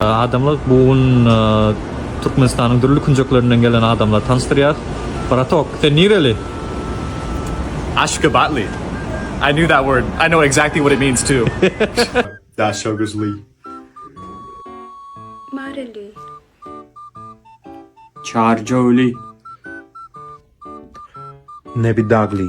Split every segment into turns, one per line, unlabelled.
Adamlar
bu gün Türkmenistanyň dürli künjeklerinden gelen adamlar tanyşdyrýar. Bratok, sen nireli? Ashgabatly.
I knew that word. I know exactly what it means too.
Daşoguzly. Mareli.
Çarjowly.
Nebidagly.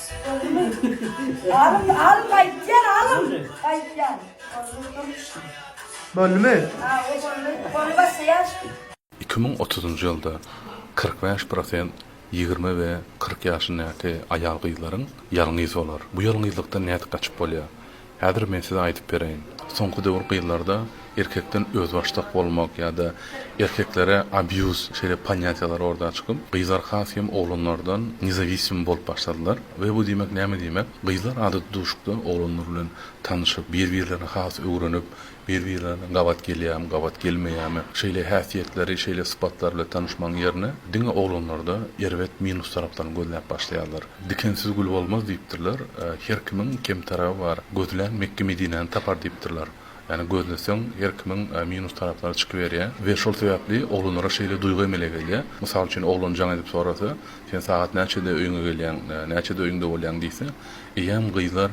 Gördümi? Alym, alym aýtýar, alym aýtýar.
Bozulyp durmuşyn. Boldumy? Ha, o boldy.
Goluny başlaýarsyň. Iki müň
otuzynjy ýylda kyrk bäş prosent ýigrimi we kyrk ýaşyndaky aýal-gyzlaryň ýalňyz bolar. Bu ýalňyzlykdan nädip gaçyp bolýar? Häzir men size aýdyp bereýin. Soňky döwür gyzlarda erkekden özbaşdak bolmak ýa-da erkeklere abýuz şeýle ponýatiýalar orda çykyp, gyzlar has hem oglanlardan nezawisim bolup başladylar we bu diýmek näme diýmek? Gyzlar adaty duşukda oglanlar bilen tanyşyp, bir-birlerini has öwrenip, Bir-birlerine gabat gelýärmi, gabat gelmeýärmi, şeýle häsiýetleri, şeýle sypatlary bilen tanyşmagyň ýerine, diňe oglanlarda erbet minus taraplaryny gözläp başlaýarlar. Dikensiz gül bolmaz diýipdirler. Her kimiň kem tarapy bar. Gözlän Mekge-Medinäni tapar diýipdirler. Ýagny gözleseň, her kimiň minus taraplary çykyberýär we şol sebäpli oglanlara şeýle duýgy emele gelýär. Mysal üçin, oglan jaň edip sorasa, Sen sagat näçede öýüňe gelýäň, näçede öýüňde bolýaň diýse, eýýäm gyzlar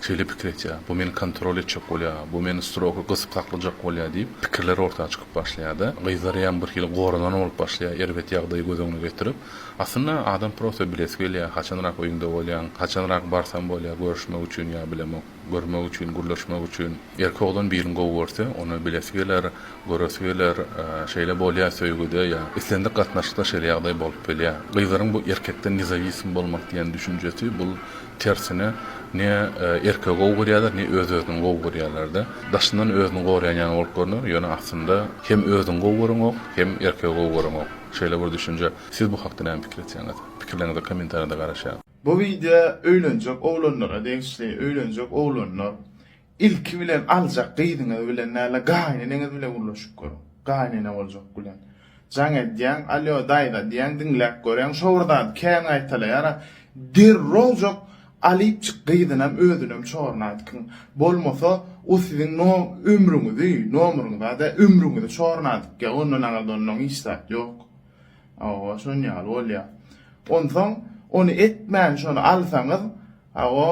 Şeýle pikir etýär, bu meni kontrol etjek bolýar, bu meni strogy gysyp saklajak bolýar diýip, pikirler orta çykyp başlaýar-da, gyzlaryam birhili goranan bolup başlaýar, erbet ýagdaýy göz öňüne getirip. Aslynda, adam prosta bilesi gelýär, haçanrak öýüňde bolýaň, haçanrak barsam bolýar, görüşmek üçin ýa bilemok, görmek üçin, gürleşmek üçin. Erkek oglan birini gowy görse, ony bilesi geler, göresi geler, şeýle bolýar söýgüde ýa islendik gatnaşykda şeýle ýagdaý bolup bilýär. Gyzlaryň bu erkekden nezawism bolmak diýen düşünjesi, bul Tersine, ne erkegi gowy görýärler, ne öz-özüni gowy görýärler-de. Daşyndan özüni goraýan ýaly bolup görner, ýöne aslynda hem özüňi gowy göreňok, hem erkegi gowy göreňok. Şeýle bir düşünje. Siz bu hakda näme pikir etýäňiz? Pikirleriňize kommentariýada garaşýarys. Bu wideo
öýlenjek oglanlara degişli. Öýlenjek oglanlar, Ilki bilen aljak gyzyňyz bilen däl-de gaýyneneňiz bilen gürleşip görüň. Gaýynene boljak bilen. Jaň edýäň, alýo daýza diýýäň diňläp göräň, şo bir zady kän gaýtalaýar-a. Derrowjak alypjyk gyzynam özünem çoruna aýtgyň. Bolmasa o siziň no ömrüňizi, nomryňyzy a-da ömrüňizi çoruna adykýa, ondan aňyrda onnoň hiç zat ýok. Hawa, şon ýaly bolýa. Onsoň ony etmän şony alsaňyz, hawa,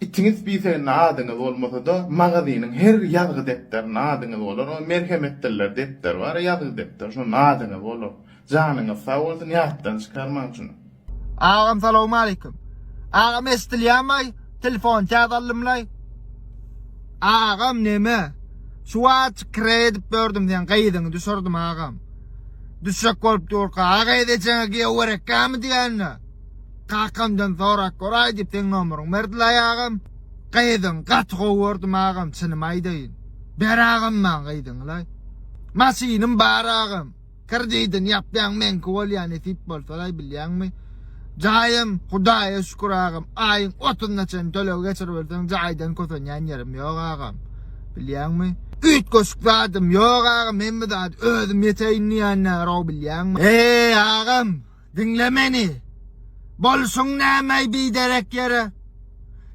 Itiňiz spiseginde adyňyz bolmasa-da, magazynyň her ýazgy depderinde adyňyz bolar. O Merhem etdiriler depderi bar, ýazgy depderi, şonda adyňyz bolar. Janyňyz sag bolsun, ýatdan çykarmaň şuny. Agam
salowmaleýkim. Agam eşdilýämaý telefon täze aldymlaý. Agam neme şu wagt kre edip ýördüm seň gyzyňy düşürdim agam. Düşek bolup durka aga edejeňe giýew gerekgämi diýende. Kakamdan sorap goraý diýip seň nomeryňy berdiler agam. Gyzyň gaty gowy gördüm agam çynymy aýdaýyn. Ber agam maň gyzyňylaý. Maşynym bar agam. Kredidini ýapýan meňki bolýa nesip bolsalaý bilýäňmi. Jaýym Hudaýa şükür agam aýyň otuzyna çenli töleg geçiriberseň jaýdan kösenýän ýerim ýok agam. Bilýäňmi. Üýtgeşik zadym ýok agam hemme zady özüm ýeteýin diýýänler o bilýäňmi. Eý agam. Diňle meni. Bolsun nämeý biderek ýere.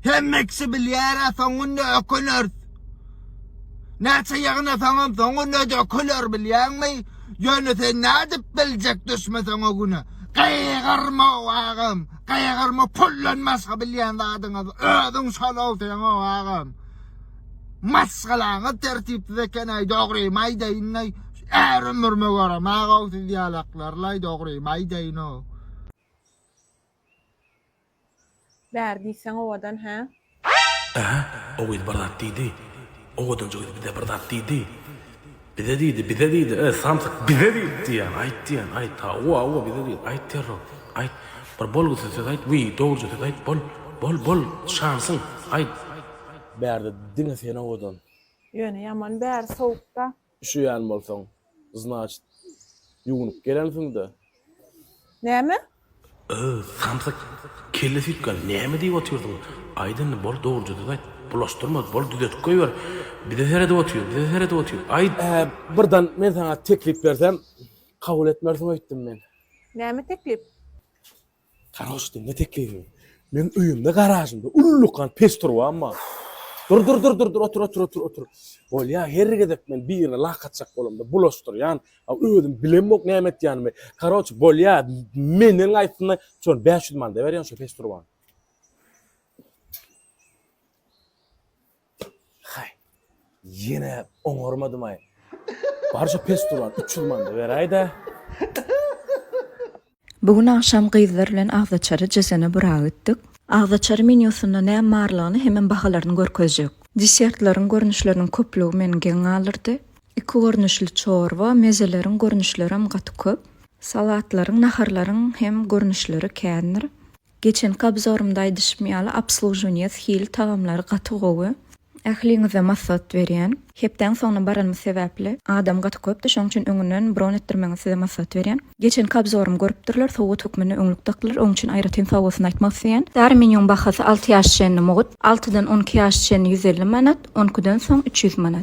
Hemme kişi bilýär-ä soň günde öküneris. Näçe ýygnasaňam soň günde döküler bilýäňmi? Ýöne sen nädip biljek düşmeseň o güne? Gygyrma-ow agam, gygyrma puldan başga bilýän zadyňyz özüň şol-ow seň-ow agam. Maşgalaňyz tertipsiz ekeneý dogrymy aýdaýynlaý är ömrüme göremagau siz ýalaklarlaý dogrymy aýdaýyno.
Bäri diýseň owadan hä. Ähä
o gyz bir zat diýdi. Owadanjy gyz bize bir zat diýdi. Bize diýdi, bize diýdi, e, samsyk, bize diýdi diýýän, aýt diýýän, aýt, hawa, hawa, bize diýdi, aýt derrew, aýt, bir bolgusyz söz aýt, wiý, dogruja söz aýt, bol, bol, bol, şansyň, aýt. Bärde diňe sen owadan. Ýöne ýaman
bäri sowukda. Üşeýän bolsaň,
znaçt, ýuwnup gelensiň-dä,
Näme? Ööy,
samsyk, kelle süýtgän, näme diýip otyrdyň? Aýt indi, bol, dogrujadyp aýt. Bulaşdyrma, bol, düzetip goýber. Bize seredip otyr, bize seredip otyr. Aýt! Ä, birden men saňa teklip bersem, kabul etmersiň öýtdüm men. Näme teklip? Garoş, diňle teklibiňi. Meň öýümde, garažymda ullakan peç turbam bar. Dur, dur, dur, dur, dur, otur, otur, otur, otur. Bolýa, her gezek men birine lak atjak bolamda, bulaşdyrýan, A özüm bilemok näme etýänimi. Karoç bolýa, menden gaýtsynda, şol 500 manada berýän şu peç turbany. Hay. Ýene oňarmadym ay. Bar şu peç turban 300 manada beräýdä.
Bu gün agşam gyzlar bilen agzaçary Cezene Bura gitdik. Agzaçary menýusynda näm barlygyny hemem bahalaryny görkezjek. Desertleriň görnüşleriniň köplügi meni geň galdyrdy. Iki görnüşli çorba, mezeleriň görnüşlerem gaty köp. Salatlaryň, naharlaryň hem görnüşleri kändir. Geçenki abzorymda aýdyşym ýaly obslužuwniýe s hili tagamlary gaty gowy. Ähliňize massat berýän. Hepdäň soňuna baranymyz sebäpli adam gaty köpdi şoň üçin öňünden bron etdirmäňiz size massat berýän. Geçenki abzorymy görüpdirler sowgat hökmünde öňlük dakdylar oň üçin aýratyn sagbolsun aýtmak isleýän. Dary menýuň bahasy alty ýaş çenli mugt, altydan on iki ýaş çenli ýüz elli manat, on ikiden soň üç ýüz manat.